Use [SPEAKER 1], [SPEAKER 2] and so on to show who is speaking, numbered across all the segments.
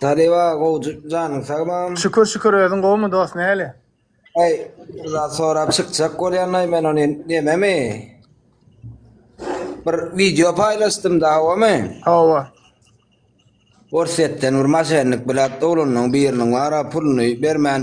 [SPEAKER 1] Talyba gowjy janyň sag mam. Şükür şükür özüň
[SPEAKER 2] gowmy dost näle. Ay
[SPEAKER 1] za sorap çykjak bolýanay men ony nememi. Bir video paylaştym da hawamy. Hawa. Orsetden bir maşenlik bilat dolunyň biriniň wara puluny bermän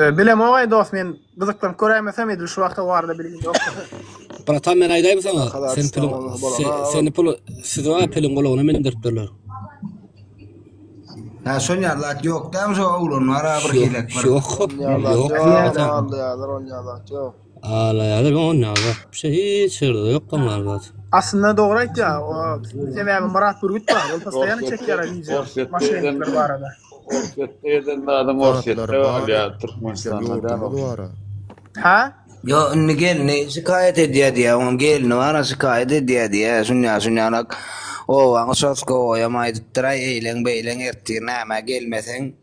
[SPEAKER 2] Ee, Bilem oňay dost men gyzyklanyp köräýmesem edil şu wagta barada bilgim ýok. Bratan men
[SPEAKER 3] aýdaým saňa. Kadar Sen piliň İstanbul'da bolana sen- adam. seni pul siz wa piliň gulagyna meni indirip berler.
[SPEAKER 1] Ha şon ýazat ýokdam şu oglan bar ha bir hilek bir. Yok. Ýazat Yok. ýok,
[SPEAKER 3] Bratan. aldy ýazar, on ýazat ýok. Alaýalar onda bak. Şu hiç ýerde ýok bunlar bak. Aslynda dogry aýtýa. Sebäbi Myrat Bürgüt bar. Ol postaýany çekýär wideo. Maşennikler barada. Orsýetde
[SPEAKER 2] eden zadyň Orsýetde bolýa. Türkmenistanda
[SPEAKER 4] däl. Hä?
[SPEAKER 2] Ýo indi
[SPEAKER 1] gelni şikaýat edýä diýä oň gelni bar a şikaýat edýä diýä şunýa şunýarak obaň uçaskowoýam aýdypdyraý eýleň beýleň ertir nämä gelmeseň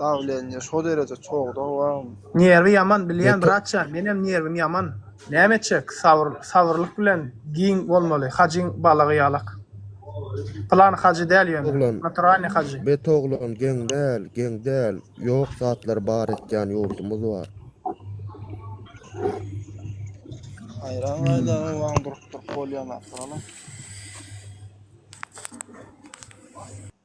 [SPEAKER 5] Dawleniýe şo dereje çogda wagm. Nerwi ýaman
[SPEAKER 2] bilýän bratja menem nerwim ýaman. Näme etjek sabyr sabyrlyk bilen giň bolmaly hajyň balagy ýalak. Plan hajy däl ýöne naturalny hajy. Bet oglan geň
[SPEAKER 6] däl geň däl ýok zatlary bar etýän ýurdumyz bar.
[SPEAKER 5] Haýran gaýlaryň wagm durup durup bolýan zat bar olam.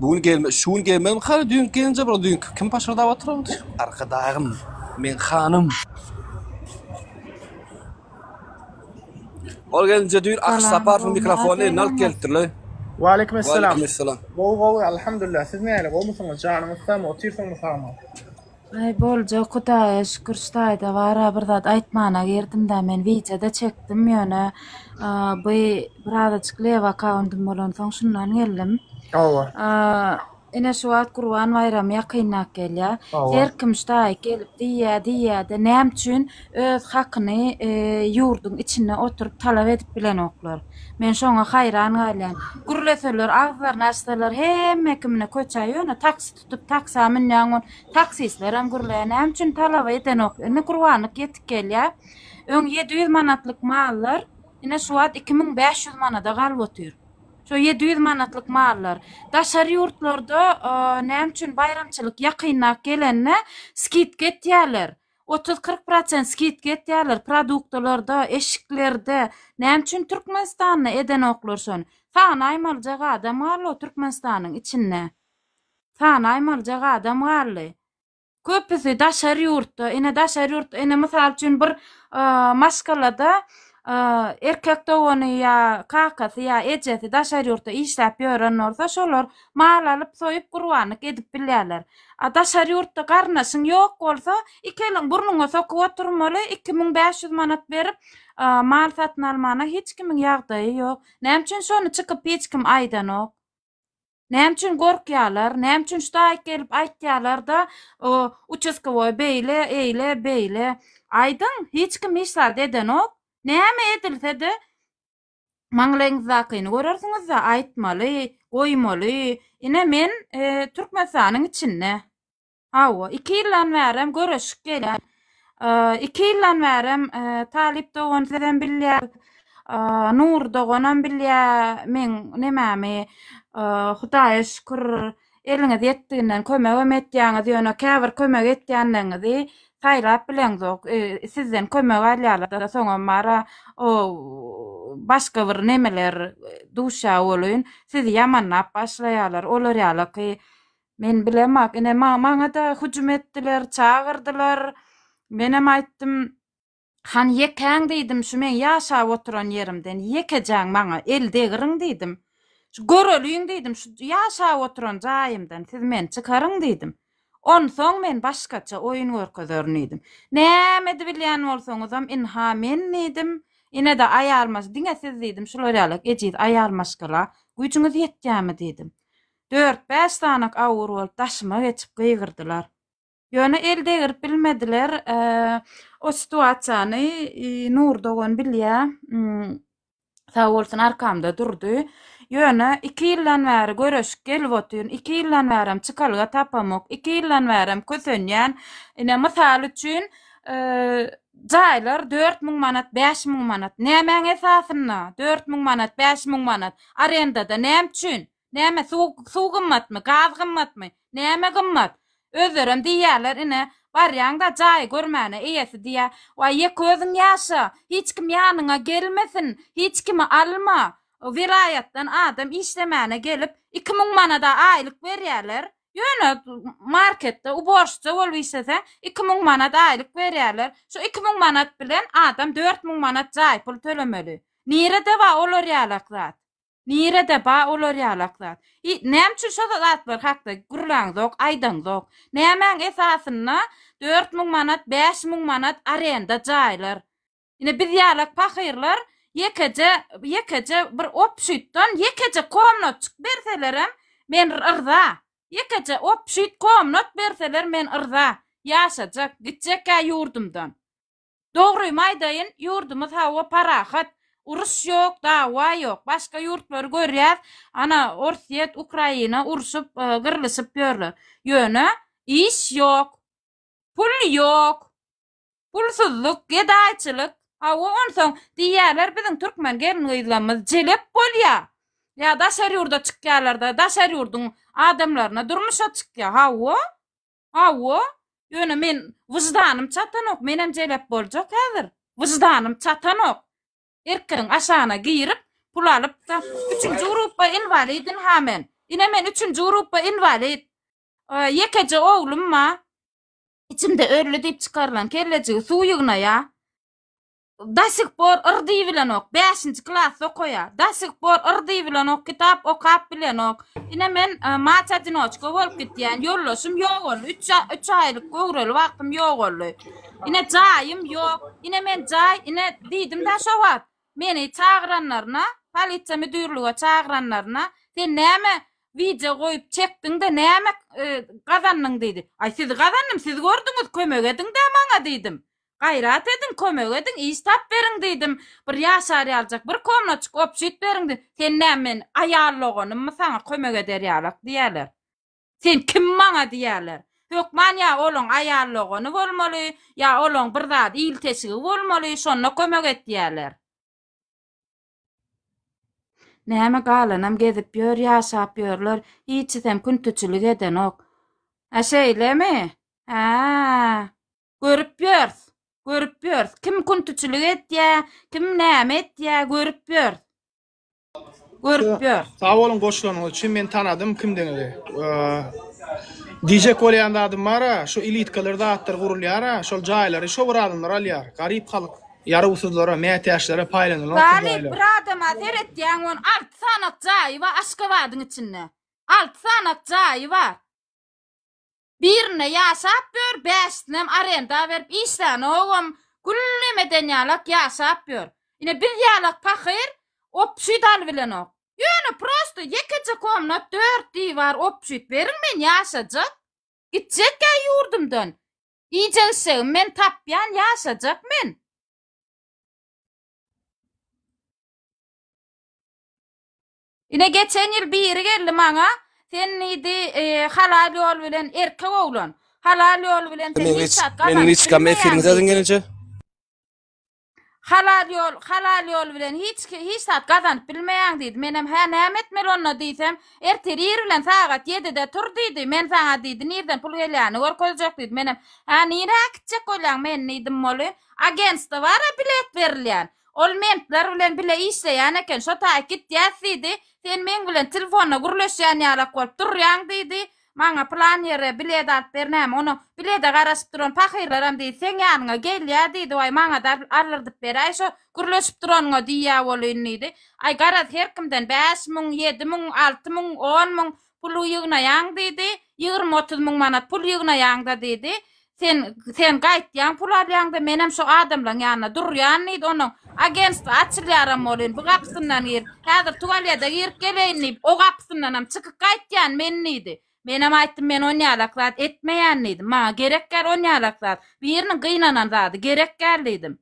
[SPEAKER 3] Bu gün gelme, şu gün gelmezmi hany düýnki gelinje bura düýnki kim paşyrdap otyrady. Arkadagym, meň hanym. Ol gelinje düýn Akyş Saparowyň mikrofonyny alyp gelipdirler. Waleýkim Esselam.
[SPEAKER 2] Gowy
[SPEAKER 3] gowy Alhamdulillah
[SPEAKER 2] siz näle gowmysyňyz janyňyz sagmy otyrsyňmy sagmy. Aý
[SPEAKER 7] boljak hudaýa şükür ştaýda bara bir zat aýtmana girdimdä men wideoda çekdim ýöne bu birazajyk lew akauntym bolansoň şundan geldim. Hawa.
[SPEAKER 2] Ine şu wagt
[SPEAKER 7] gurban baýramy ýakynlap gelýä. Her kim ştaý gelip diýýä diýýäde näme üçin öz hakyny e, ýurduň içinde oturyp talap edip bilenoklar. Men şoňa haýran galýan. Gürleseler agzlaryny açsalar hemme kimine köçä ýöne taksi Tutup taksa münýän bol. Taksistlerem gürlär. Näme üçin talaba edenok? Indi gurbanlyk ýetik gelýär. Öň ýedi ýüz manatlyk mallar ine şu wagt iki müň bäş ýüz manada galyp otyr. Şo ýedi ýüz manatlyk mallar. Daşary ýurtlarda näme üçin baýramçylyk ýakynrak gelende skidka etýärler. Otuz, kyrk prosent skidka etýärler produktalarda, eşiklerde. Näme üçin Türkmenistanda edenoklar şony? Sagyn aýmalyjak adam bar-la Türkmenistanyň içinde. sany aýmaljak adam galdy. Köpüsi daşary ýurtda, ine daşary ýurtda, ine mysal üçin bir maşgalada erkek dogany ýa kakasy ýa ejesi daşary ýurtda işläp ýören bolsa şolar mal alyp soýup gurbanlyk edip bilýärler. A daşary ýurtda garyndaşyň ýok bolsa iki eliň burnuňa sokup oturmaly iki müň bäş ýüz manat berip mal satyn almana hiç kimiň ýagdaýy ýok. Näme üçin şony çykyp hiç kim aýdanok. Näme üçin gorkýarlar? Näme üçin şu daýyk gelip aýtýarlar-da, uçaskowoý beýle, eýle, beýle. Aýdyň, hiç kim hiç zat edenok. Näme edilse-de, maňlaýyňyzdakyny görersiňiz-de, aýtmaly, goýmaly. Ine, men Türkmenistanyň içinde. Hawa, iki ýyldan bärem görüşip gelýän. Iki ýyldan bärem Talyp dogan sizem bilýär, Nury doganam bilýär meň nemämi. Hudaýa şükür, eliňiz ýetdiginden kömegem etýäňiz, ýöne käbir kömek etýänleriňizi saýlap bileňzok. Sizden kömek alýarlar-da, soňam bar-a, o başga bir nemeler duşa bolun, sizi ýamanlap başlaýarlar. Olar ýalyky Men bilemok. Ine ma- maňa-da hüjüm etdiler, çagyrdylar. Menem aýtdym, Han ýekäň diýdim, şu meň ýaşap oturan ýerimden ýekejäň maňa el degiriň diýdim. Şu göreliň diýdim, şu ýaşap oturan jaýymdan siz meni çykaryň diýdim. Onsoň men başgaça oýun görkezerin diýdim. Näme edibilýän bolsaňyzam, ynha men diýdim. Ine-de aýal maş, diňe siz diýdim, şular ýalak ejiz aýal maşgala güýjüňiz ýetýärmi diýdim. Dört-bäş sanyk awur bolup daşyma geçip gygyrdylar. Ýöne el degirip bilmediler. O situasiýany Nury dogan bilýä. Sag bolsun arkamda durdy. Ýöne iki ýyldan bäri göreşip gelip otyryn. Iki ýyldan bärem çykalga tapamok. Iki ýyldan bärem kösenýän. Ine mysal üçin jaýlar dört müň manat, bäş müň manat. Nämäň esasynda? Dört müň manat, bäş müň manat. Arendada näme üçin? Näme suw suw gymmatmy, gaz gymmatmy, näme gymmat? Özlerem diýýärler ine, barýaň-da jaýy görmäne eýesi diýýär, Waý, ýeke özüň ýaşa, hiç kim ýanyňa gelmesin, hiç kimi alma. Welaýatdan adam işlemäne gelip, iki müň manada aýlyk berýärler. Ýöne marketde uborşça bolup işleseň, iki müň manat aýlyk berýärler. Şu iki müň manat bilen adam dört müň manat jaý pul tölemeli. Nirede bar olar ýalak zat? Nirede ba olar ýalak zat? I näme üçin şo zatlar hakda gürläňzok, aýdaňzok? Nämäň esasynda dört müň manat, bäş müň manat arenda jaýlar? Ine biz ýalak pahyrlar ýekeje ýekeje bir obşütdan ýekeje komnatçyk berselerem men rza. Ýekeje obşüt komnat berseler men rza. Ýaşajak, gitjek-ä ýurdumdan. Dogrymy aýdaýyn, ýurdumyz hawa parahat, uruş ýok, dawa ýok. Başga ýurtlary görýäs, ana, Orsýet, Ukraina urşup, gyrlyşyp ýörler. Ýöne, iş ýok, pul ýok, pulsuzlyk, gedaýçylyk. Hawa, onsoň diýýärler, biziň türkmen gelin-gyzlarymyz jelep bolýar. Ýa daşary ýurda çykýarlar-da, daşary ýurduň adamlaryna durmuşa çykýar. Hawa, Hawa, ýöne men wyždanym çatanok, menem jelep boljak häzir. Wyždanym çatanok. Erkegiň aşagyna girip, pul alyp, üçünji grupba inwalidin ha men. Ine men üçünji grupba inwalid. Ýekeje oglum ba. Içimde ölli diýip çykarylan kellejigi suw ýygnaýa. Da sih por yr diý bilenok. Bäşinji klasda okaýa. Da sih por yr diý bilenok. Kitap okap bilenok. Ine men e, maç adinoçka bolup gitýän. Ýoldaşym ýok boldy. Üç, a- üç aýlyk göwreli wagtym ýok boldy. Ine jaýym ýok. Ine men jaý, ine diýdim da şo wagt. Meni çagyranlaryna, polisiýa müdürlige çagyranlaryna, sen näme wideo goýup çekdiň-de näme e, gazandyň diýdi. Aý sizi gazandym, siz gördüňiz, kömek ediň-dä maňa diýdim. Gaýrat ediň, kömek ediň, iş tap beriň diýdim. Bir ýaşar ýaljak bir komnaçyk, obşit beriň diýdim. Sen näme men aýal doganymmy saňa kömek eder ýalak diýerler. Sen kim maňa diýerler. Hökman ýa olaň aýal dogany bolmaly, ýa olaň bir zat ilteşigi bolmaly, şonda kömek et diýerler. Näme galanam gezip ýör, ýaşap ýörler, hiçisem küntiçilik edenok. Hä şeýlemi? Hä. Görüp ýörs. Görüp ýörs. Kim küntüçilik etýä, kim näme etýä, görüp ýörs. Görüp ýörs.
[SPEAKER 2] Sag boluň goşulanyňyz üçin men tanadym kimdigiňizi. Diýjek bolýan zadym bar-a, şu ilitkalar zatlar gurulýar-a, şol jaýlary şo bir adamlar alýar. Garyp halk, ýarawsyzlara, mätäçlere paýlanylýar. Garyp bir adama
[SPEAKER 7] seretýäň on alty sanak jaýy bar Aşgabadyň içinde. Alty sanak jaýy bar. Birinde ýaşap ýör, bäşisinem arenda berip işlänogam, güllemeden ýalak ýaşap ýör. Ine biz ýalak pahyr obçuý dal bilenok. Ýöne prosto ýekeje komnat dört diwar obçut beriň men ýaşajak. Gitjek ýa ýurdumdan. Iýjek işegim men tapýan ýaşajak men. Ine geçen ýyl biri geldi maňa, sen diýdi, e, halal ýol bilen erkek oglan, halal ýol bilen sen Meniň hiç hiç, zat
[SPEAKER 3] meniň gazanyp hiç kam
[SPEAKER 7] bilmeýäň efiriňiz diýdi. gelýänçe. Halal ýol, halal ýol bilen hiç ki- hiç zat gazanyp bilmeýäň diýdi. Menem hä näme etmeli onda diýsem, ertir ir bilen sagat 7-de tur diýdi. Men saňa diýdi, nirden pul gelýänini görkezjek diýdi. Menem, hä nirä gitjek bolýaň men diýdim, moly agentstwo bara bilet berilýän. Ol mentler bilen bile işleýän eken, şo taýy gitýäs diýdi. Sen meň bilen telefonda gürleşýän ýalak bolup durýaň diýdi. Maňa plan ýere bilet alyp ber näme, onuň bilede garaşyp duran pahyrlaram diýdi, seň ýanyňa gelýär diýdi, waý, maňa-da aldyrdyp beräý şo gürleşip duranyňa diýýä bolyn diýdi. Aý, garaz, her kimden bäş müň, ýedi müň, alty müň, on müň, Pul ýygnaýaň diýdi. Ýigrimi-otuz müň manat pul ýygnaýaň-da diýdi. Sen, sen gaýtýaň, pul alýaň-da, menem şo adamlaň ýanynda durýan diýdi. Onuň agentstwo açylýaram bolýn, bu gapysyndan gir. Häzir tuwalýada girip geleýin diýip, o gapysyndanam çykyp gaýtýan men diýdi. Menem aýtdym, men on ýalak zat etmeýän diýdim. Maňa gerek däl on ýalak zat. Biriniň gynanan zady gerek däl diýdim.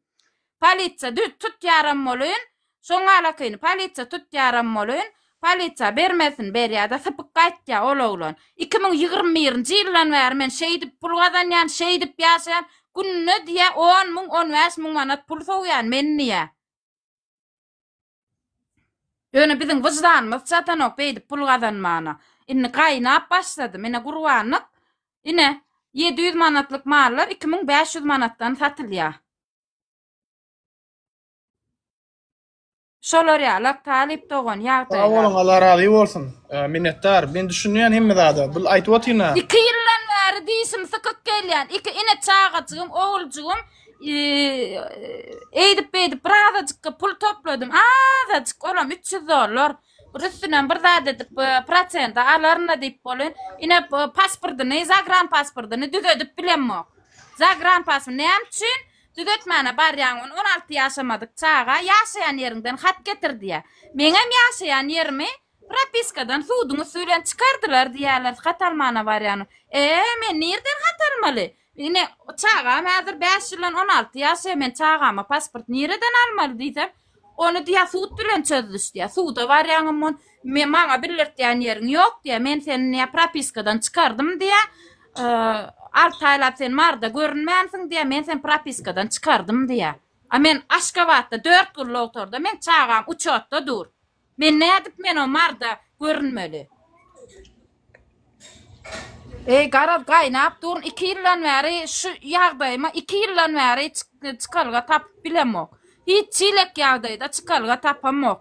[SPEAKER 7] Polisiýa düz tutýaram bolyn. Şoň alatyny polisiýa tutýaram bolyn. Polisiýa bermesin berýä-de sypyk gaýtýa ol oglan. Iki müň ýigrimi birinji ýyldan bäri men şeýdip pul gazanýan, şeýdip ýaşaýan, gününe diýä on müň, on bäş müň manat pul sowýan men diýä. Ýöne biziň wyždanymyz çatanok beýdip pul gazanmana. Indi gaýnap başlady. Menä gurbanlyk. Ine, ýedi ýüz manatlyk mallar iki müň bäş ýüz manatdan satylýa. Şolar ýaly talyp dogan ýagdaýlar. Sag boluň, Allah razy
[SPEAKER 2] bolsun. Minnetdar. Men düşünýän hemme zada. Bu aýdyp otyna. Iki ýyldan bäri
[SPEAKER 7] dişim sykyk gelýän. Iki ine çagajygym, oguljygym eýdip beýdip birazajykka pul topladym. Azajyk olam üç ýüz dollar. Bir üstünden bir zat edip e, prosente alaryn-da diýip bolýar. Ine e, pasportyny, zagranpasportyny düzedip bilemok. Zagranpasport näme üçin düzetmäne barýaň ony 16 ýaşamadyk çaga ýaşaýan ýeriňden hat getir diýýär. Meňem ýaşaýan ýerimi propiskadan suduň üsti bilen çykardylar diýýärler, hat almana barýanym. E, men nireden hat almaly? Ine çagam häzir 5 ýyldan 16 ýaşaýar, men çagama pasport nireden almaly diýsem, Ony diýýär, sud bilen çözüliş diýýär. Suda barýaňam on, me, maňa bildirtýän ýeriň ýok diýýär. Men seni diýýär, propiskadan çykardym diýýär. Aa, alty aýlap sen Maryda görünmänsiň diýýär. Men seni propiskadan çykardym diýýär. A men Aşgabatda dört gyl logtorda, meň çagam uçotda dur. Men nädip men o marda görünmeli. Eý garaz gaýnap durun iki ýyldan bäri şu ýagdaýyma iki ýyldan bäri çykalga tapyp bilemok. Hiç çilek ýagdaýda çykalga tapamok.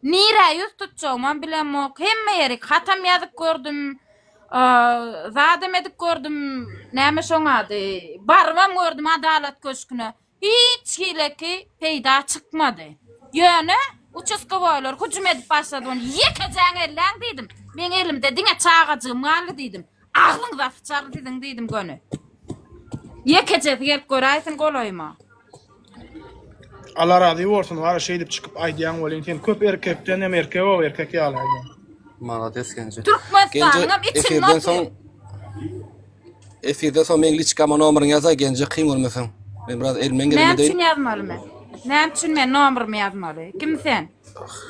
[SPEAKER 7] Nirä ýüz tutjagymam bilemok. Hemme ýerik hatam ýazyp gördüm. Zadam edip gördüm. Näme şoň ady? Barybam gördüm adalat köşküne. Hiç hileki peýda çykmady. Ýöne uçaskowoýlar hüjüm edip başladygynda, Ýekejäňi elläň diýdim. Meň elimde diňe çagajygym galdy diýdim. Agzyňyza syçar siziň diýdim göni. Ýekejesi gelip göräýsin golaýyma.
[SPEAKER 2] Alla razy bolsun wara şeýdip çykyp aýdýaň welin sen köp erkekden hem erkek o erkek ýaly aýdýaň. Malades Genje.
[SPEAKER 3] Türkmenistanyňam
[SPEAKER 7] içinde otur. Efirden
[SPEAKER 3] soň meň liçkama nomeryňy ýazaý Genje kyn görmeseň. Men biraz elmden geldim Näme üçin ýazmaly men?
[SPEAKER 7] Näme üçin men nomerymy ýazmaly? Kim sen?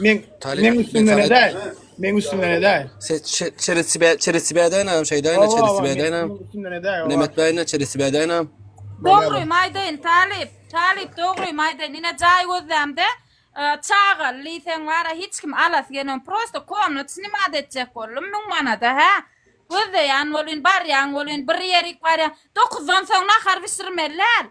[SPEAKER 7] Men men üstünden edäý. Men üstünden
[SPEAKER 2] edäý. Sen çeresi bä
[SPEAKER 3] çeresi bädäýnä şeýdäýnä çeresi bädäýnä. Üstünden edäý. Nemet
[SPEAKER 2] bäýnä çeresi
[SPEAKER 3] bädäýnä. Dogry
[SPEAKER 7] maýdaýyn talyp. Talyp dogry maýdaýyn. Ine jaý gözlämde çagaly diýseň bara hiç kim alasy gelmedi. Prosta komnat snimat etjek boldum 1000 manada hä. Gözleýän bolyn, barýan bolyn, bir ýerik barýan. Dokuzdan soň nahar bişirmeliler.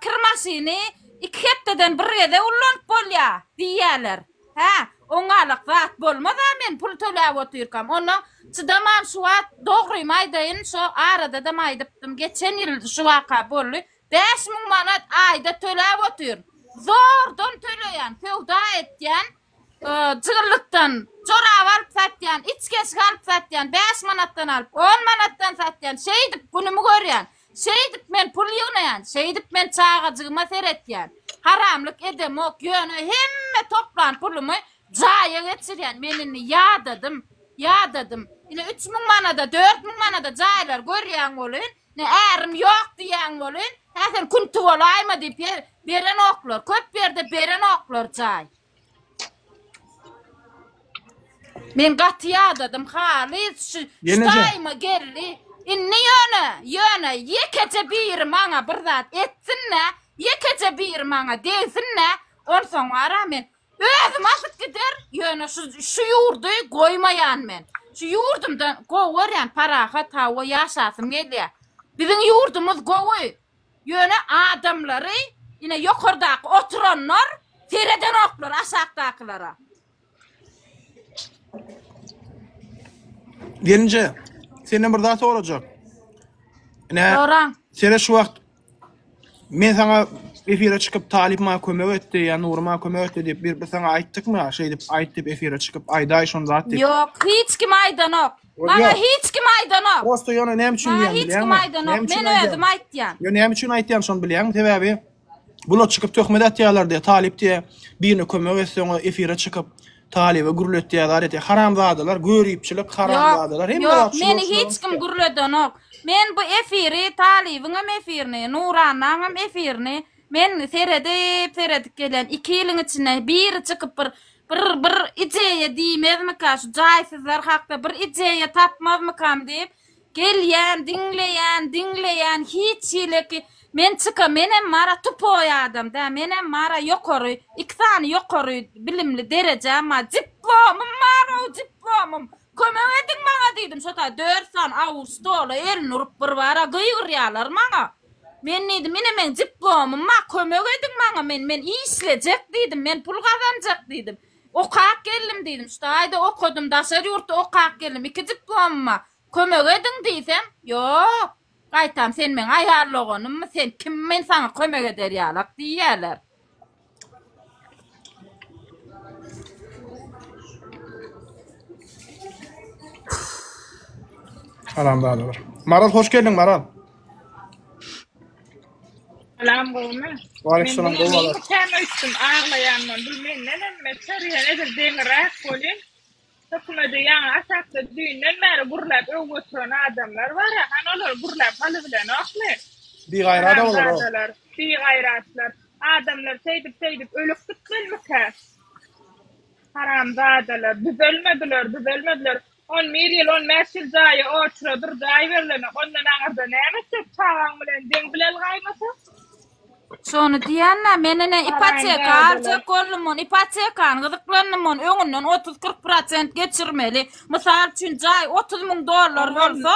[SPEAKER 7] Kir maşyny iki hepdeden bir gezek ullanyp bolýar diýýärler. Hä, oňňalak zat bolmaz-a men pul töläp otyrkam. Onda çydamam şu wagt dogrymy aýdaýyn, şo aradadam aýdypdym, geçen ýyl şu waka boldy. Bäş müň manat aýda töläp otyryn. Zordan töleýän, söwda etýän. Jygyrlykdan jorap alyp satýan, içgeçgi alyp satýan, bäş manatdan alyp, on manatdan satýan, şeýdip günümi görýän, şeýdip men pul ýygnaýan, şeýdip men çagajygyma seretýän, haramlyk edemok, ýöne hemme toplan pulumy jaýa geçirýän, men indi ýadadym, ýadadym, ine üç müň manada, dört müň manada jaýlar görýäň welin, Ne ärim ýok diýýäň welin, häzir künti bolaýma diýip berenoklar, köp ýerde berenoklar jaý. Men gaty ýadadym halys şu daýyma geldi. Indi ýöne, ýöne ýekeje biri maňa bir zat etsin-de, ýekeje biri maňa degsin-de, onsoň wara men Özüm asyp gider, ýöne şu şu ýurdy goýmaýan men. Şu ýurdumda gowy görýän, parahat hawa ýaşasym gelýär. Biziň ýurdumyz gowy. Ýöne adamlary ine ýokardaky oturanlar seredenoklar aşakdakylara.
[SPEAKER 2] Gelinje, senden bir zat sorajak. Ine, Soraň. sene
[SPEAKER 7] şu wagt
[SPEAKER 2] Men saňa efire çykyp Talyp maňa kömek etdi ýa Nury maňa kömek etdi diýip bir bir saňa aýtdykmy şeýdip aýt diýip efire çykyp aýdaý şon zat diýip. Ýok hiç kim
[SPEAKER 7] aýdanok. Maňa hiç kim aýdanok. Prosta ýöne näme üçin diýýän bilýäňmi?
[SPEAKER 2] Maňa hiç kim aýdanok.
[SPEAKER 7] Men
[SPEAKER 2] özüm
[SPEAKER 7] aýtýan. Ýöne näme üçin aýtýan
[SPEAKER 2] şony bilýäňmi sebäbi bular çykyp töhmet atýalar diýe Talyp diýe birine kömek etseň efire çykyp Talyba gürletýä zat etýä haramzadalar göripçilik haramzadalar hemme zat Ýok meni hiç
[SPEAKER 7] kim gürledenok. Men bu efiri Talybyň hem efirini, Nuranaň hem efirini men seredip seredip gelýän. 2 ýylyň içinde biri çykyp bir bir bir ideýa diýmezmika şu jaýsyzlar hakda bir ideýa tapmazmykam diýip Gelýän diňleýän diňleýän hiç hili ki men çyka menem mara tupoý adam dä menem mara ýokary iki sany ýokary bilimli derejäm bar diplomym barow diplomym kömek ediň maňa diýdim şo taýda dört sany awul stola elini urup bir bara gygyrýalar maňa men diýdim ine meň diplomym bar kömek ediň maňa men men işlejek diýdim men pul gazanjak diýdim Okap geldim diýdim, şu taýda okadym, daşary ýurtda okap geldim, iki diplomyma kömek ediň diýsem, ýok, gaýtam sen meň aýal doganymmy, sen kim men saňa kömek eder ýalak diýýärler.
[SPEAKER 2] Haramzadalar. Maral hoş geldiň Maral.
[SPEAKER 8] Salam gowmy? Waleýkimsalam
[SPEAKER 2] gowy alar. Men täme öýtdüm
[SPEAKER 8] aglaýanman. Bu menden emme çörýän edil deňiräk bolýan. Hökümede ýaňy aşakda düýnden bäri gurlap öw götüren adamlar bar. Han olar gurlap haly bilenokmy? Bigaýrat
[SPEAKER 2] olar o. Bigaýratlar.
[SPEAKER 8] Adamlar şeýdip şeýdip ölüp gitmelikä? Haramzadalar. Düzelmediler, düzelmediler. On bir ýyl, on bäş ýyl jaýy oçura bir jaý berilenok,
[SPEAKER 7] ondan aňyrda näme etjek, çagaň bilen deň bileli gaýmasa? Şony diýän-dä, men ine ipoteka aljak boldumon, ipotekany gyzyklandymon, öňünden otuz-kyrk prosent geçirmeli. Mysal üçin, jaý otuz müň dollar bolsa,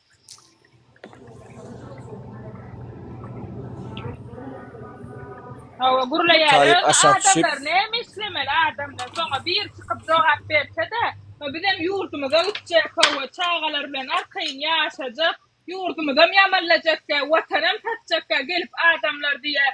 [SPEAKER 8] Hawa gurlaýar. Taýyp aşak düşüp. Adamlar näme islemeli adamlar soňa bir çykyp jogap berse-de, bizem ýurdumyza gitjek, hawa çagalar bilen arkaýyn ýaşajak, ýurdumyzam ýamanlajakda, watanam satjakda gelip adamlar diýýär,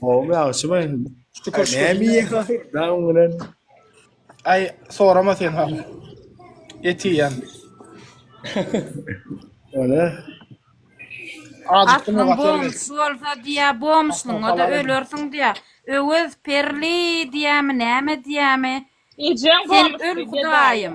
[SPEAKER 2] Gowy ýagşy baý. Şükür şükür. Näme ýeýäň? Daň bilen. Aý, sorama sen ha. Et ýeýän.
[SPEAKER 6] Öne. Adyň
[SPEAKER 2] bomusy bolsa
[SPEAKER 7] diýä, bomuslyň, o da ölersiň diýä. Öwez, Perli diýämi, näme diýämi? Ejeň bomusy. Sen öl hudaýym.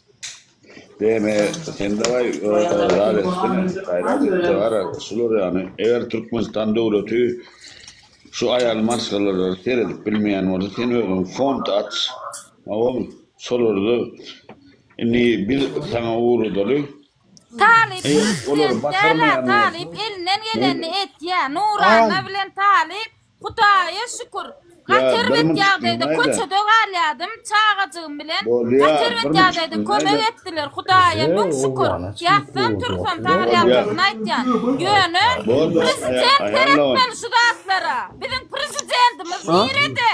[SPEAKER 4] Deme, sen dawai zat etsene, gaýrat et dogara, şular ýaly. Eger Türkmenistan döwleti şu aýal maşgalalary seredip bilmeýän bolsa, sen özüň fond aç, oňa şolary indi biz saňa ugradaly. Talyp
[SPEAKER 7] prezident
[SPEAKER 4] dälä
[SPEAKER 7] talyp
[SPEAKER 4] elinden
[SPEAKER 7] gelenini etýä Nurana bilen talyp Hudaýa şükür, gaty erbet ýagdaýda köçede galýadym, çagajygym bilen, gaty erbet ýagdaýda kömek etdiler, Hudaýa müň şükür, ýatsam tursam sagyrýandygyny aýtýan, ýöne prezident seretmeli şu zatlara, biziň prezidentimiz nirede?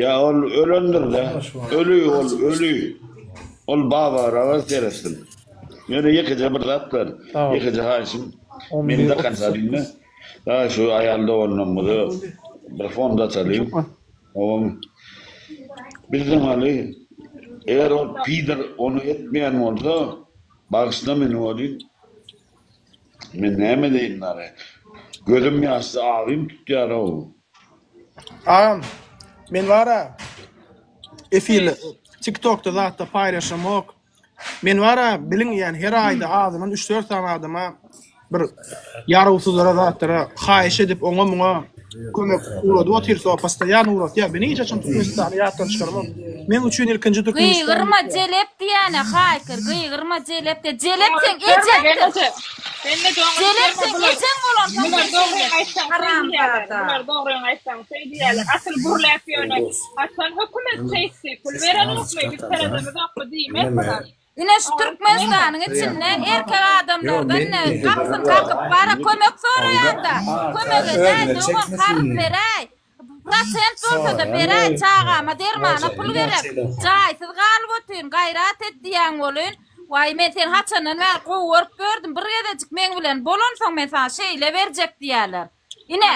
[SPEAKER 4] Ýa ol ölendirdä, öli ol öli, ol babaraga seretsin, ýöne ýekeje bir zat bar, ýekeje haýyşym, meni dokonca diňle, Daýy şu aýal doganlarymyza bir fon daçalyň. Oň bizden galy eger ol pider ony etmeýän bolsa bagyşla meni welin men näme edeýin daýy. Gözüm ýaşly abym tutýarow. Agam
[SPEAKER 2] men bara efirde tiktokda zatda paýlaşamok. Men bar-a, biliň diýýän, her aýda azyndan üç-dört sany adama bir ýarawsyzlara, zatlara haýyş edip, oňa-muňa kömek ugradyp otyrys-ow, postoýan ugratýar. Men hiç haçan Türkmenistany ýatdan çykarmam. Meň üçin ilkinji Türkmenistan. Gygyrma, jelep
[SPEAKER 7] diýýän-ä, haýkyr, gygyrma, jelep diýýän. Jelep seň ejeňdir. Jelep seň ejeň bolansoň sen şeýle diýýän.
[SPEAKER 8] Haramzada. Bular dogryňy aýtsaň şeý diýýärler. Asyl gürläp ýöne. Haçan hökümet çekdi? Pul berenokmy? Biz seredemizokmy? Diýmek bilen. Ine şu
[SPEAKER 7] Türkmenistanyň içinde erkek adamlardan gapysyny kakyp bara kömek soraýanda, kömek edäý, dogan karz beräý, prosent bolsada beräý, çagama dermana pul gerek, jaýsyz galyp otyryn, gaýrat et diýýän bolyn. Waý, men seni haçandan bäri gowy görüp gördüm, bir gezejik meň bilen bolansoň men saňa şeýle berjek diýerler. Ine,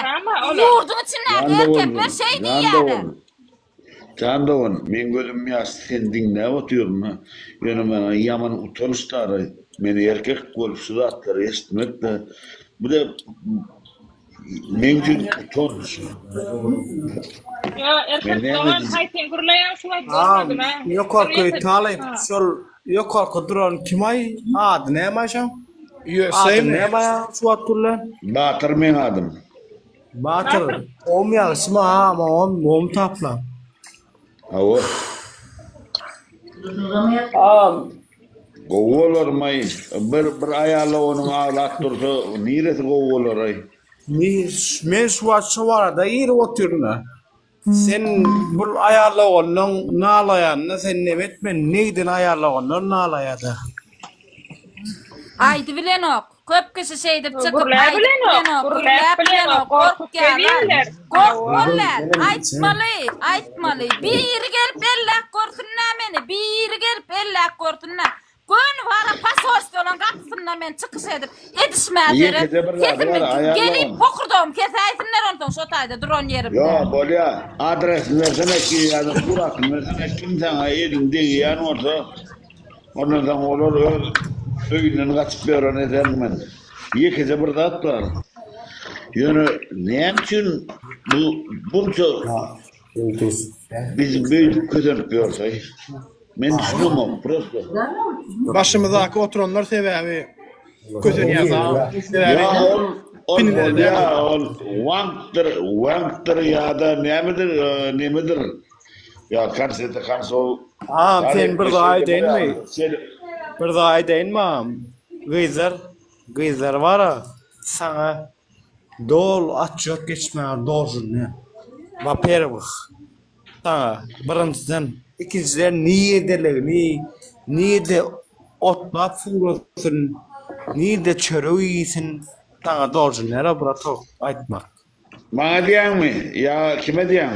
[SPEAKER 7] ýurduň içindäki erkekler şeý diýýärler. Jan
[SPEAKER 4] dogan, meň gözüm ýaşly seni diňläp otyryn, ýöne maňa ýaman utanç daraý. Men erkek bolup şu zatlary eşitmek-de, bu-da meň üçin utanç.
[SPEAKER 8] Ýa, erkek dogan, haý sen gürleýäň şu wagt görmedim-ä. Ýok-a, Köýt haly,
[SPEAKER 5] şol. Ýokarky duran kimaý ady nämaý şoň? Ýöseymi? Nämaý suwat gürlän? Batyr meň
[SPEAKER 4] adym. Batyr
[SPEAKER 5] om ýagşymy a on om taplan. Hawa.
[SPEAKER 4] Am. Gowy bolarmaý. Bir bir aýala onuň aglap dursa niresi gowy bolaray.
[SPEAKER 5] Men şu wagt şo barada girip otyryn. Sen bul aýallagandan nalaýanyna sen nem etme, negden aýallagandan nalaýada.
[SPEAKER 7] Aýdy bilenok. Köp kişi şeýdip çykyp Gürläp aýdyp bilenok, bilenok,
[SPEAKER 8] gürläp gürläp bilenok, bilenok, gorkup gorkýarlar. gelýärler. Gork Hawa. bolýar, Ozal, benim
[SPEAKER 7] aýtmaly, aýtmaly. Biri gelip elläp görsün-dä meni, biri gelip elläp görsün-dä. Gönüwara posolstwolaň gapysynda men çykyş edip, edişmä Ýeke berip, de bir zady sesimi bar, aýal gelip dogan. hokurdagymy kesäýsinler onsoň şo taýda duran ýerimde. Ýo, bolýa.
[SPEAKER 4] Adresini bersene ki ýa-da suratyny bersene kim saňa elini degýän bolsa, ondan soň olar öz öýünden gaçyp ýören ederin men. Ýekeje bir zat bar. Ýöne näme üçin bu bunça Bizi beýdip kösenip ýörseý. Men düşünemok prosto. Başymyzdaky
[SPEAKER 2] oturanlar sebäbi kösenýäs a. Sebäbi
[SPEAKER 4] pinine näme? Ol wankdir, wankdir ýa-da nämedir, nemedir. Ýa konsete konsol. A, sen bir
[SPEAKER 5] zat aýdaýynmy? Bir zat aýdaýynmam? Gyzlar, gyzlar bar-a, saňa Doly otçýot geçmäge dozulýan. Waperwih, saňa, birinjiden, ikinjiden niredeligini, nirede otlap suwlasyn, nirede çörek iýsin, saňa dozulýar-a, bratok, aýtmak. Maňa
[SPEAKER 4] diýýäňmi ýa kime diýýäň?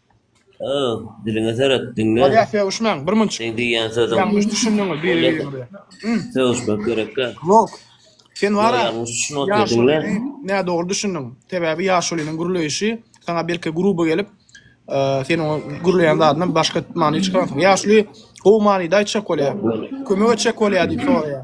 [SPEAKER 4] Öz
[SPEAKER 9] diliňe seret, diňle. Bolýa sögüşmäň, bir munçik.
[SPEAKER 2] Seň diýýän sözüň. Ýalňyş
[SPEAKER 9] düşündüňiz biri
[SPEAKER 2] biriňize. Sögüşmek
[SPEAKER 9] gerekkä? Ýok.
[SPEAKER 2] Sen wara. Ýalňyş düşünip otyr, diňle.
[SPEAKER 9] Nädogry düşündiň.
[SPEAKER 2] Sebäbi ýaşulynyň gürleýişi saňa belki gruby gelip, sen oňa gürleýän zadyna başga many çykaransyň. Ýaşuly gowy manyda aýtjak bolýar. Kömek etjek bolýar diýip soraýar.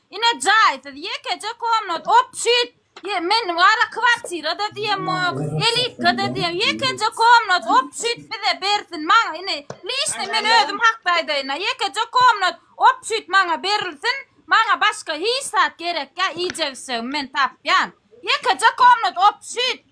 [SPEAKER 7] Ine jaýsyz ýekeje komnat opşit men wara kwartirada diýemok elitgada diýem ýekeje komnat opşit bize bersin maňa ine lişni men özüm hakda aýdaýyna ýekeje komnat opşit maňa berilsin maňa başga hiç zat gerekýa iýjek içjegimi men tapýan ýekeje komnat opşit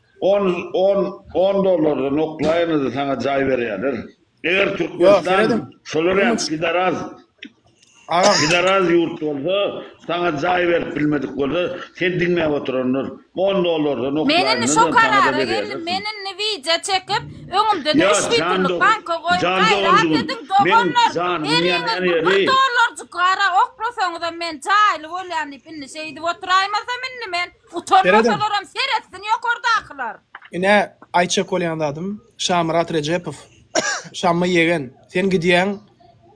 [SPEAKER 4] On on on dollardan oklaýynyzy saňa jaý berýäler. Eger Türkmenistan şolar ýaly pidaraz pidaraz ýurt bolsa, saňa jaý berip bilmedik bolsa, sen diňläp oturanlar on dollardan oklaýynyny saňa-da berýäler.
[SPEAKER 7] Men indi wideo çekip, öňümde-de üç widoluk banka goýup, gaýrat ediň, doganlar, her ýeriňiz bir bir dollarjyk gara oklasaňyzam men jaýly bolýan diýip indi şeýdip oturaýmasam indi men. Utanmasalar Seredin. hem seretsin ýokardakylar. Ine,
[SPEAKER 2] aýtjak bolýan zadym, Şamyrat Rejepow, Şammy ýegen, sen gidýäň,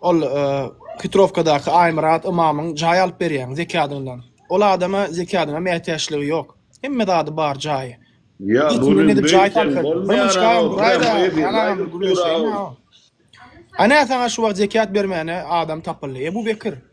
[SPEAKER 2] ol e, Hitrowkadaky Aýmyrat ymamyň jaý alyp berýäň zekadyndan. Ol adama zekadyňa mätäçligi ýok. Hemme zady bar jaýy. Ýa Git buny
[SPEAKER 4] gidip jaý beýtsem
[SPEAKER 2] tapyp. Bir bolmaýar munçka ha, bir aýda, prýamoý efir, ýaňam aýdyp dur gürleşeýin a. ha. Ana saňa şu wagt zekat bermäne adam tapyldy. Ebu Bekir.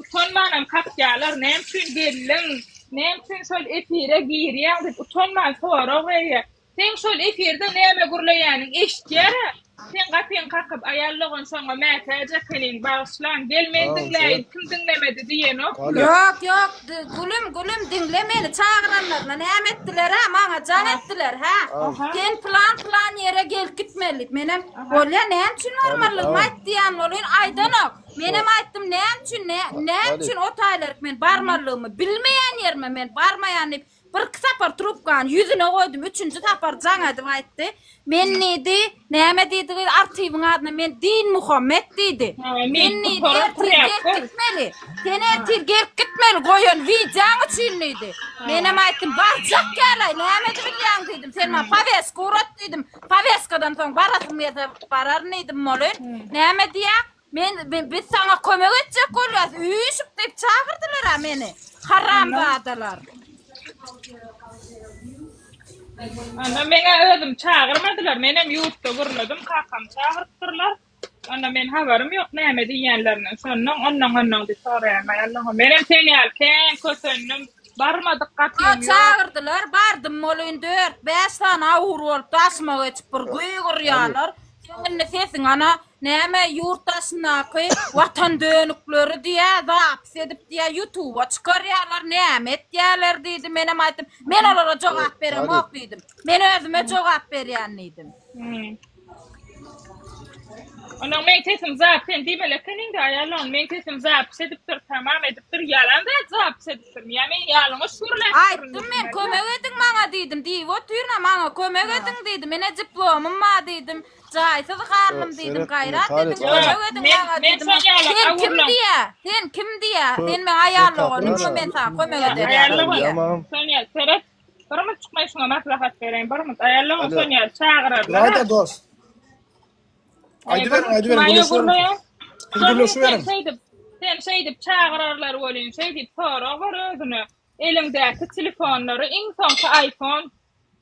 [SPEAKER 8] Utanmanam kakýalar näme üçin geldiň näme üçin şol efire girýäň diýip utanman sorag berýär. Seň şol efirde näme gürleýäniň eşitýärä. Seň gapyň kakyp aýal dogançaňa mätäç ekeniň bagyşlaň gel men diňläýin kim diňlemedi diýenok bular. Ýok ýok
[SPEAKER 7] gülüm gülüm diňle meni çagyranlaryna näme etdilerä maňa jaň etdiler hä sen plan plan ýere gelip gitmeli menem bolýa näme üçin barmalygymy aýt diýen bolýan aýdanok Menem aýtdym, näme üçin, näme üçin ot aýlaryk men barmalygymy, bilmeýän ýerime men barmaýan diýip, bir iki sapar trubkany ýüzüne goýdum, üçünji sapar jaň edip aýtdy. Men diýdi, näme diýdi, artybyň adyna men Din Muhammet diýdi. Men diýdi, ertir gelip gitmeli. Sen ertir gelip gitmeli, goýan wideoň üçin diýdi. Menem aýtdym, barjak ýaly, näme edip bilýäň diýdim. Sen maňa powestku urat diýdim. Powestkadan soň barasym gelse bararyn diýdim, moly. Näme diýýäň? Men biz saňa kömek etjek bolýas üýşüp diýip çagyrdylara meni haramzadalar. Onda
[SPEAKER 8] meňe özüm çagyrmadylar menem ýurtda gürledim kakam çagyrypdyrlar. Onda men habarym ýok näme diýýänlerinden şondan ondan ondan diýip soraýan aý Allahym menem sen ýaly kän kösendim barmadyk gatyň ýok. Çagyrdylar bardym
[SPEAKER 7] bolyn dört bäş sany awur bolup daşyma geçip bir güýgürýärler seň indi sesiň ana Näme ýurt daşyndaky watan dönükleri diýä zapis edip diýä ýutuba çykarýarlar näme etýäler diýdi menem aýtdym men olara jogap beremok diýdim men özüme jogap berýän diýdim.
[SPEAKER 8] Onuň meň sesim zap sen diýmeli eken indi aýalyň meň sesim zapis edipdir tamam edipdir ýalan zat zapis edipdirmi ýa men ýalňyş gürläp Aýtdym men kömek
[SPEAKER 7] ediň maňa diýdim diýip otyryn-a maňa kömek ediň diýdim ine diplomym bar diýdim Jaýsyz galnym diýdim gaýrat ediň kömek ediň maňa diýdim. Sen kim diýä? Sen kim diýä? Sen meň aýal oglummy men saňa kömek ederin? Aýallyk diýýär. Sonya
[SPEAKER 8] seret. Bir mut çykmaý şuňa maslahat bereýin bir mut. Aýallygyň Sonya çagyrarlar. Gaýda dost.
[SPEAKER 2] Aýdyberiň aýdyberiň. Gürleşiberiň.
[SPEAKER 8] Şeýdip sen şeýdip çagyrarlar welin şeýdip sorag ber özüne. Eliňdäki telefonlary iň soňky iPhone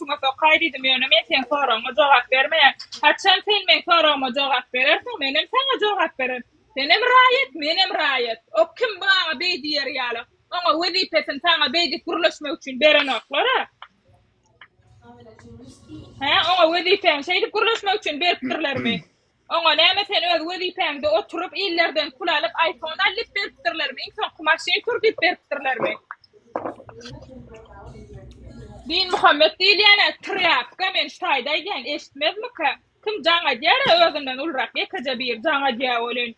[SPEAKER 8] üstüňe sokaý diýdim, ýöne men seň soragyňa jogap bermeýän. Haçan sen meň soragyma jogap berersiň, menem saňa jogap bererin. Senem raýat, menem raýat. Ok kim maňa beý diýer ýaly. Oňa wezipesini saňa beý diýip gürleşmek üçin berenoklar-a. Hä, oňa wezipäni şeýdip gürleşmek üçin beripdirlermi? Oňa näme sen öz wezipäňde oturyp illerden pul alyp aýfon al dip beripdirlermi iň soňky maşyn sür dip beripdirlermi. Din Muhammet diýilýänä trýapka men şu taýda aýdýan eşitmezmika kim jaň edýara özünden ulrak ýekeje bir jaň edýä welin.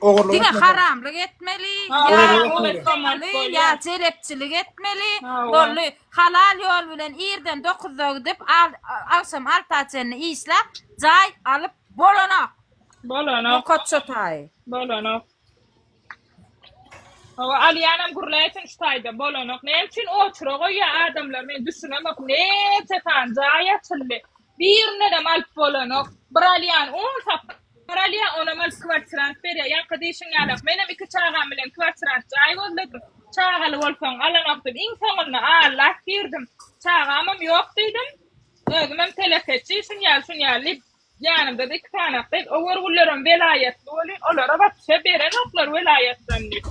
[SPEAKER 7] Ogurlyk Diňe etmeli. haramlyk etmeli, Ha, ýa ogurlyk etmeli. oňurtgamaly, Bolýar. ýa jelepçilik etmeli. Ha, wa. Boldy. Halal ýol bilen irden dokuzda gidip, al- agşam alta çenli işläp, jaý alyp bolanok. Bolanok, Nokat çotaýy. bolanok. Hawa, alýanam gürläýsin şu
[SPEAKER 8] taýda,
[SPEAKER 7] bolanok.
[SPEAKER 8] Näme üçin oçura goýýar adamlar, men düşünemok. Neçe sany jaý açyldy. Birinedem alyp bolanok. Bir alýan on sapar alýar, onam alyp kwartirant berýär. Ýaňky diýşiň ýaly, menem iki çagam bilen kwartirant jaý gözledim. Çagaly bolsaň alanokdym. Iň soňunda allap girdim. Çagamam ýok diýdim. Özümem telekeçi, şuny ýaly, şuny ýaly diýip, ýanymda-da iki sany gyz, ower gullarym welaýatly bolýar, olara wapse berenoklar welaýatdan diýip.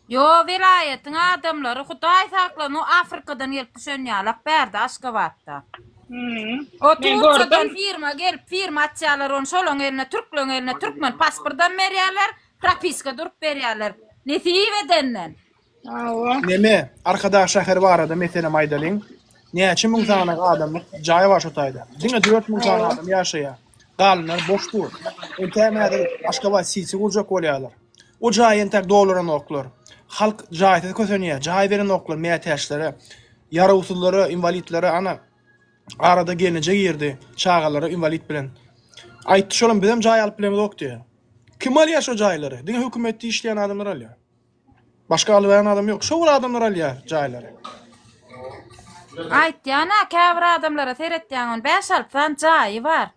[SPEAKER 7] Ýo welaýatyň adamlary hudaý saklan o afrikadan gelip düşen ýalak bärde aşgabatda. Hmm. O Men Turkiýadan gördüm. firma gelip firma açýarlar ony şolaň eline türkleň eline türkmen pasportam berýärler, propiska durup berýärler. Nesip edenden. Awa. Neme,
[SPEAKER 2] Arkadag şäheri barada meselem aýdalyň. Näçe müň sany adamlyk jaý bar şu taýda. Diňe 4000 sany adam ýaşaýar. Galanlar boş dur. Entägem häzir Aşgabat siti gurjak bolýarlar. O jaý entek dolaranoklar. Halk jaýsyz kösenýär. Jaý berenoklar mätäçlere, ýarawsyzlara, inwalidlere. Ana, arada gelneje girdi, çagalary inwalid bilen. Aýtdy şolam, bizem jaý alyp bilemizok diýýär. Kim alýar şo jaýlary? Diňe hökümetde işleýän adamlar alýar. Başga alyberen adam ýok. Şo bir adamlar alýar jaýlary. Aýtýan-a,
[SPEAKER 7] käbir adamlara seretýäňem, bäş-alty sany jaýy bar.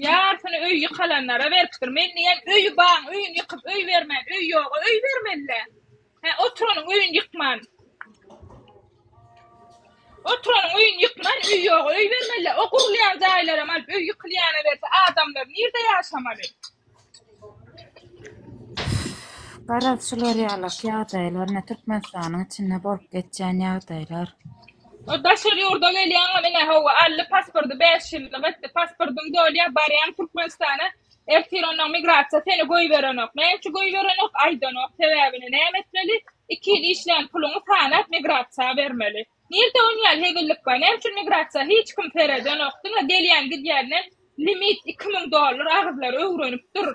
[SPEAKER 8] Ýarysyny öý ýykalanlara beripdir. Men diýýän, öýi baň öýüni ýykyp öý bermän, öý ýoga öý bermeli-dä. Hä, oturanyň öýüni ýykman. Oturanyň öýüni ýykman, öý ýoga öý bermeli-dä. O gurulýan jaýlaram alyp öý ýykylýana berse, adamlar nirde ýaşamaly? Garaz
[SPEAKER 7] şular ýalak ýagdaýlar ine Türkmenistanyň içinde bolup geçýän ýagdaýlar. O
[SPEAKER 8] daşary ýurda gelýäňem ine hawa aldy pasporty 5 ýyllyk etdi pasportyň dolýa barýaň Türkmenistana ertir onnoň migrasiýa seni goýberenok näme üçin goýberenok aýdanok sebäbini näme etmeli 2 ýyl işlän puluňy sanap migrasiýa bermeli. Nirde onýal hezillik bar näme üçin migrasiýa hiç kim seredenok diňe gelýän gidýänden limit iki müň dollar agyzlary öwrenip dur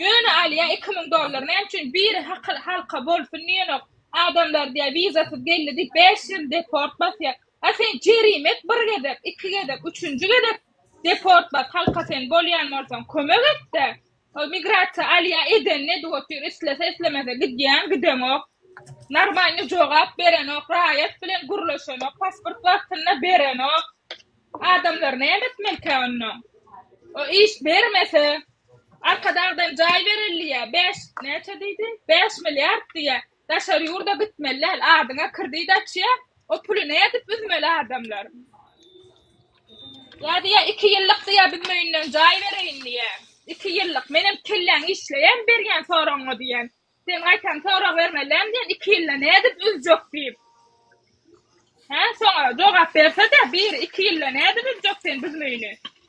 [SPEAKER 8] ýöne alýa iki müň dollar näme üçin biri hakyl halka bolsun diýenok adamlar diýä wizasyz geldi diýip bäş ýyl deport basýa a sen jerime et bir gezek iki gezek üçünji gezek deport bas halka sen bolýan bolsaň kömek etde Ol migrasiýa alýa edenini edip otyr islese islemese gidýän gideňok normalny jogap berenok raýat bilen gürleşenok pasport wagtynda berenok adamlar näme etmelikä onda o iş bermese arkadagdan jaý berilýä bäş näçe diýdi bäş milliard diýýä Daşary ýurda gitmeli däl adyňa krdit açýa o puly nädip üzmeli adamlar. Ýa diýýä iki ýyllyk diýýä biz möýünden jaý bereýin diýýä. Iki ýyllyk menem kelläň işleýän berýän soragyňa diýýän. Sen gaýtam sorag bermeli däl diýýän iki ýylda nädip üzjek diýip. Hä soňa jogap bersede biri iki ýylda nädip üzjek sen biz möýüni.